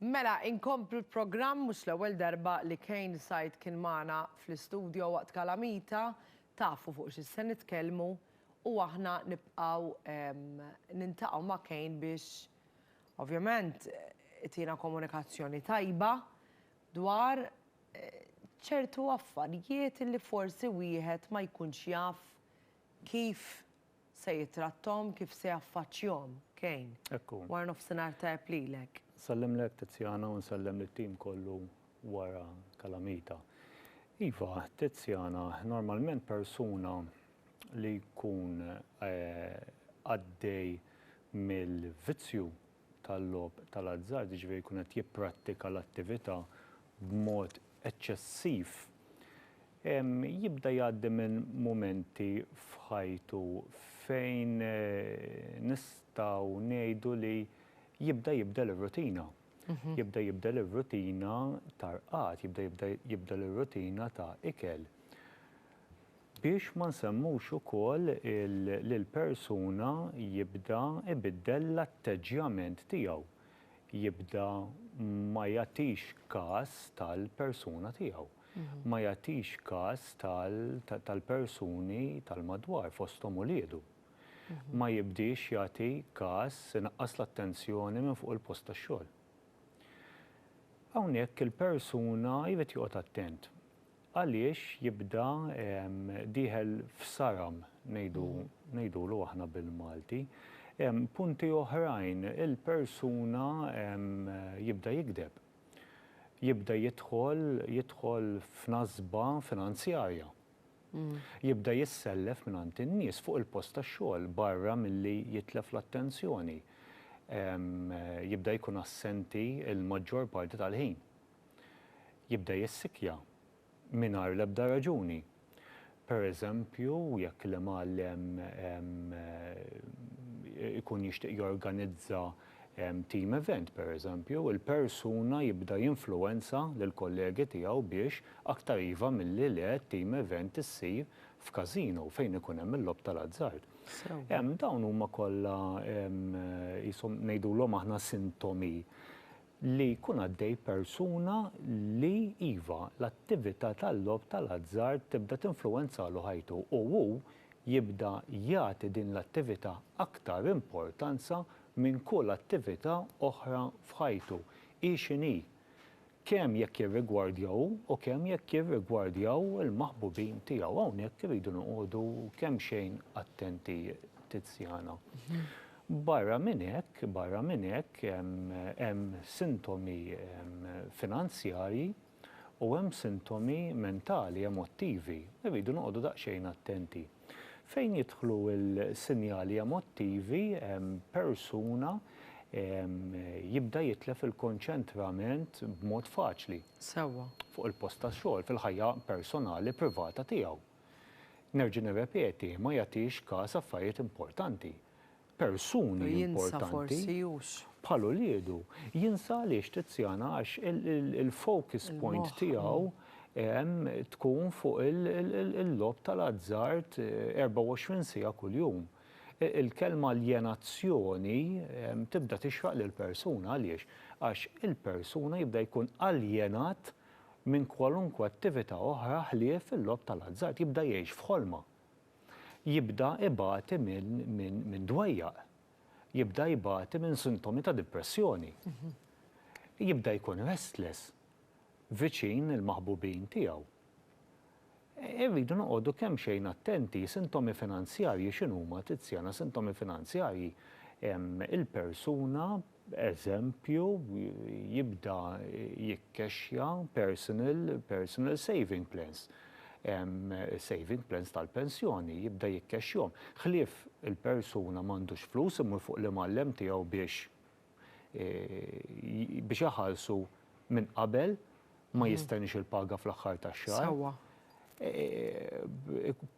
Mela, inkomplu l-programm mhux l-ewwel darba li Kane Said kien magħna fl-istudio waqt kalamita, tafu fuq xi se nitkellmu u aħna nibqgħu nintaqgħu ma' Kane biex ovvjament itina komunikazzjoni tajba dwar ċertu affarijiet li forsi wieħed ma jkunx jaf kif Se jittrattom kif se jaffaċjhom, Kane. Hekk hu. Wara nofsinhar tajjeb lilek. Nsellimlek Tiziana u nsellem lit-tim kollu wara Calamita. Iva, Tiziana, normalment persuna li jkun għaddej mill-vizzju tal-logħob tal-azzard, jiġifieri jkun qed jipprattika l-attività b'mod eċċessiv, jibda jgħaddi minn mumenti f'ħajtu fejn nistgħu ngħidu li jibda jibdel ir-rutina. Jibda jibdel ir-rutina ta' rqad, jibda jibdel ir-rutina ta' ikel. Biex ma nsemmux ukoll li l-persuna jibda jbiddel l-atteġġjament tiegħu, jibda ma jagħtix kas tal-persuna tiegħu, ma jagħtix kas tal-persuni tal-madwar fosthom uliedu. Ma jibdiex jagħti kas, inaqqas l-attenzjoni minn fuq il-post tax-xogħol. Hawnhekk il-persuna jrid joqgħod attent Għaliex jibda dieħel f'saram, ngħidu ngħidulu aħna bil-Malti. Punti oħrajn, il-persuna jibda jigdeb. Jibda jidħol jidħol f'nasba finanzjarja. Jibda jissellef mingħand in-nies fuq il-post tax-xogħol barra milli jitlef l-attenzjoni. Jibda jkun assenti l-maġġor parti tal-ħin. jibda jissikkja mingħajr l-ebda raġuni. Pereżempju, jekk l-imgħallem ikun jixtieq jorganizza team event, pereżempju, il-persuna jibda jinfluwenza lill-kollegi tiegħu biex aktar iva milli le t-team event issir f'casino, fejn ikun hemm il-logħob tal-azzard. Dawn huma kollha qishom ngħidulhom aħna sintomi li jkun għaddej persuna li, iva, l-attività tal-logħob tal-azzard tibda tinfluwenzalu ħajtu u hu jibda jagħti din l-attività aktar importanza minn kull attività oħra f'ħajtu, hi x'inhi, kemm jekk jirrigwardjahu u kemm jekk jirrigwardjaw il-maħbubin tiegħu. Hawnhekk irridu noqogħdu kemxejn attenti Tiziana. Barra minn hekk, barra minn hekk, hemm sintomi finanzjarji u hemm sintomi mentali, emottivi. Irridu noqogħdu daqsxejn attenti. Fejn jidħlu l-sinjali emottivi, persuna jibda jitlef il-konċentrament b'mod faċli. Sewwa. Fuq il-post tax-xogħol, fil-ħajja personali privata tiegħu. Nerġa' nirrepeti, ma jagħtix każ affarijiet importanti. Persuni importanti, bħal uliedu, jinsa għaliex Tiziana għax il-focus point tiegħu tkun fuq il-logħob tal-azzard 24 siegħa kuljum. Il-kelma aljenazzjoni tibda tixraq lill-persuna għaliex għax il-persuna jibda jkun aljenat minn kwalunkwe attività oħra ħlief il-logħob tal-azzard. Jibda jgħix f'ħolma. Jibda ibati minn dwejjaq. Jibda jbati minn sintomi ta' dipressjoni. Jibda jkun restless viċin il-maħbubin tiegħu. Irridu noqogħdu kemxejn attenti, sintomi finanzjarji x'inhuma Tiziana? Sintomi finanzjarji il-persuna eżempju, jibda jikkexja personal personal saving plans, is-saving plans tal-pensjoni, jibda jikkexjhom. Ħlief il-persuna m'għandux flus imur fuq l-imgħallem tiegħu biex biex iħallsu minn qabel ma jistenniex il-paga fl-aħħar tax-xahar. Sewwa.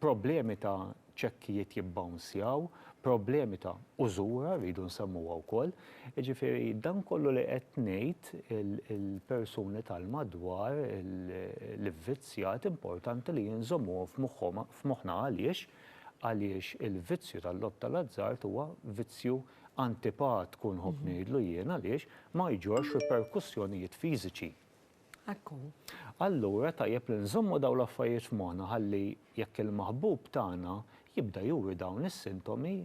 Problemi ta' ċekkijiet jibbawnsjaw, problemi ta' użura rridu nsemmuha wkoll. Jiġifieri dan kollu li qed ngħid il-persuni tal-madwar, l-ivvizzjati importanti li jinżommuhom f'moħħhom, f'moħħna għaliex, għaliex il-vizzju tal-logħob tal-azzard huwa vizzju antipatku nħobb ngħidlu jien għaliex ma jġorrx riperkussjonijiet fiżiċi. Hekk hu. Allura tajjeb li nżommu dawn l-affarijiet f'moħħna ħalli jekk il-maħbub tagħna jibda juri dawn is-sintomi,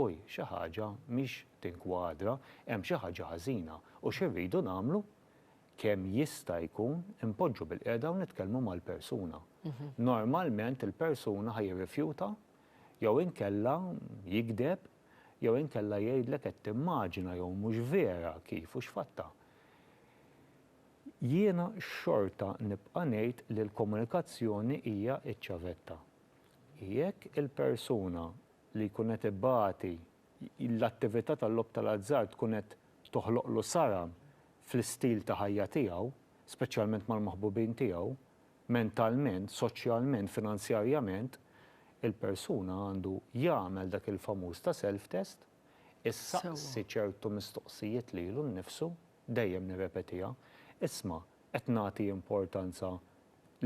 uj, xi ħaġa mhix tinkwadra, hemm xi ħaġa ħażina u xi rridu nagħmlu? Kemm jista' jkun inpoġġu bilqiegħda u nitkellmu mal-persuna. Normalment il-persuna ħa jirrifjuta jew inkella jigdeb jew inkella jgħidlek qed timmaġina jew mhux vera kif u x'fattha. Jiena xorta nibqa' ngħid li l-komunikazzjoni hija ċ-ċavetta. Jekk il-persuna li jkun qed ibati l-attività tal-logħob tal-azzard tkun qed toħloqlu saram fl-istil ta' ħajja tiegħu, speċjalment mal-maħbubin tiegħu, mentalment, soċjalment, finanzjarjament, il-persuna għandu jagħmel dak il-famuż ta' self test, issaqsi ċertu mistoqsijiet lilu nnifsu, dejjem nirrepetiha, isma' qed nagħti importanza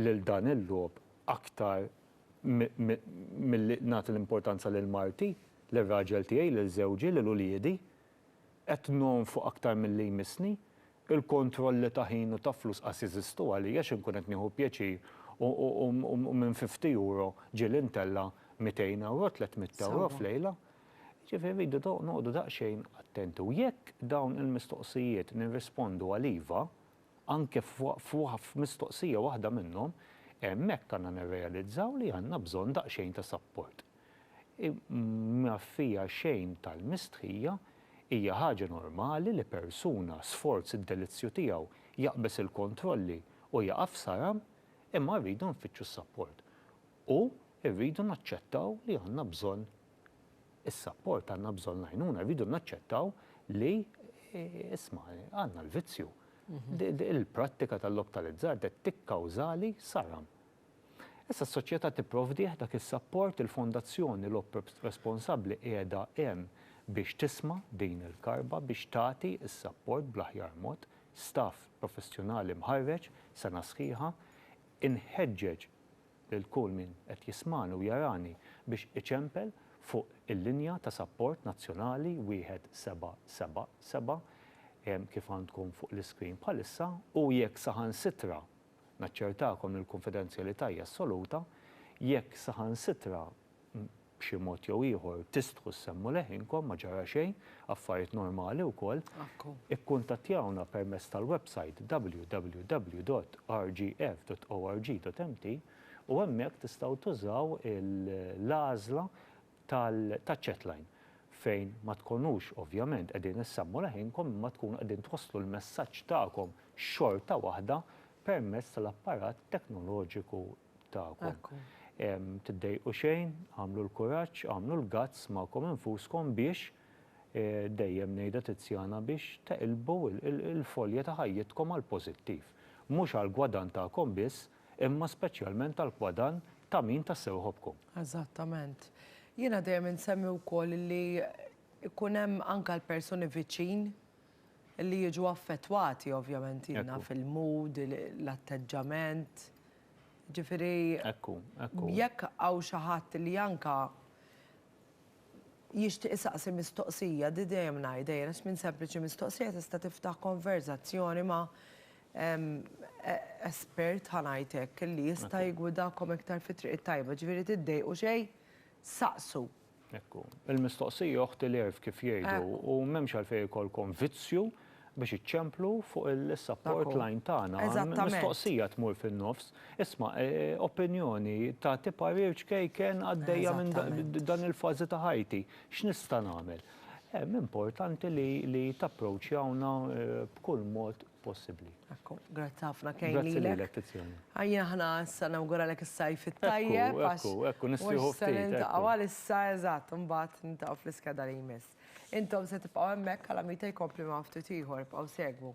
lil dan il-logħob aktar milli nagħti l-importanza lil marti, lir-raġel tiegħi, lil żewġi, lil uliedi? Qed nonfoq aktar milli jmissni? Il-kontrolli ta' ħin u ta' flus qas jeżistu għalija xi nkun qed nieħu pjaċir u minn fifty euro ġieli ntella' mitejn ewro, tliet mitt ewro f'lejla. Jiġifieri rridu noqogħdu daqsxejn attenti u jekk dawn il-mistoqsijiet nirrispondu għal iva, anke f'mistoqsija waħda minnhom, hemmhekk għandna nirrealizzaw li għandna bżonn daqsxejn ta' sapport. Hi ma fiha xejn tal-mistħija, hija ħaġa normali li persuna sforz id-delizzju tiegħu jaqbeż il-kontrolli u jaqa' f'saram, imma rridu nfittxu s-sapport. U rridu naċċettaw li għandna bżonn is-sapport, għandna bżonn l-għajnuna, rridu naċċettaw li isma' għandna l-vizzju. Il-prattika tal-logħob tal-azzard qed tikkawżali saram. Issa s-Soċjetà tipprovdih dak is-sapport, il-Fondazzjoni l-opp responsabbli qiegħda hemm biex tisma' din il-karba biex tagħti s-sapport bl-aħjar mod, staff professjonali mħarreġ sena sħiħa, inħeġġeġ lil kull min qed jismagħni u jarani biex iċempel fuq il-linja ta' sapport nazzjonali 1777 kif għandkom fuq l-iscreen bħalissa u jekk saħansitra Naċċertakom li l-kunfidenzjalità hija assoluta. Jekk saħansitra b'xi mod jew ieħor tistħu ssemmu leħinkom, ma ġara xejn, affarijiet normali wkoll. Ikkuntattjawna permezz tal-websajt www.rgf.org.mt u hemmhekk tistgħu tużaw l-għażla taċ-chat line fejn ma tkunux ovvjament qegħdin issammu leħinkom imma tkunu qegħdin twasslu l-messaġġ tagħkom xorta waħda permezz tal-apparat teknoloġiku tagħkom. Tiddejqu xejn, agħmlu l-kuraġġ, agħmlu l-guts magħkom infuskom biex, dejjem ngħidha Tiziana, biex teqilbu l-folja ta' ħajjitkom għall-pożittiv. Mhux għall-gwadann tagħkom biss, imma speċjalment għall-gwadann ta' min tassew iħobbkom. Eżattament. Jiena dejjem insemmi wkoll li jkun hemm anke l-persuni viċin li jiġu affettwati ovvjament jien naf il-mood, l-atteġġament. Ġifieri jekk hawn xi ħadd li anke jixtieq isaqsi mistoqsija, di dejjem ngħidha jien għax minn sempliċi mistoqsija tista' tiftaħ konverżazzjoni ma' espert ħa ngħid hekk li jista' jiggwidakom iktar fit-triq it-tajba. Ġifieri tiddejqu xejn saqsu. Hekk hu. Il-mistoqsija oħti l-għerf kif jgħidu u m'hemmx għalfejn ikollkom vizzju biex iċċemplu fuq il-support line tagħna. Mistoqsija tmur fin-nofs, isma' opinjoni, tagħti parir ċkejken għaddejja minn dan il-fażi ta' ħajti, x'nista' nagħmel? Hemm importanti li tapproċċjawna b'kull mod possibbli. Ekku, grazzi ħafna Kay lilek. Grazzi lilek Tiziana. Ejja aħna issa nawguralek is-sajf it-tajjeb. Ekku, ekku, ekku, nistrieħu ftit. Niltaqgħu għalissa, eżatt, imbagħad niltaqgħu fl-iskeda li jmiss. Intom se tibqgħu hemmhekk Kalamita jkompli ma' ftit ieħor, bqgħu segwu.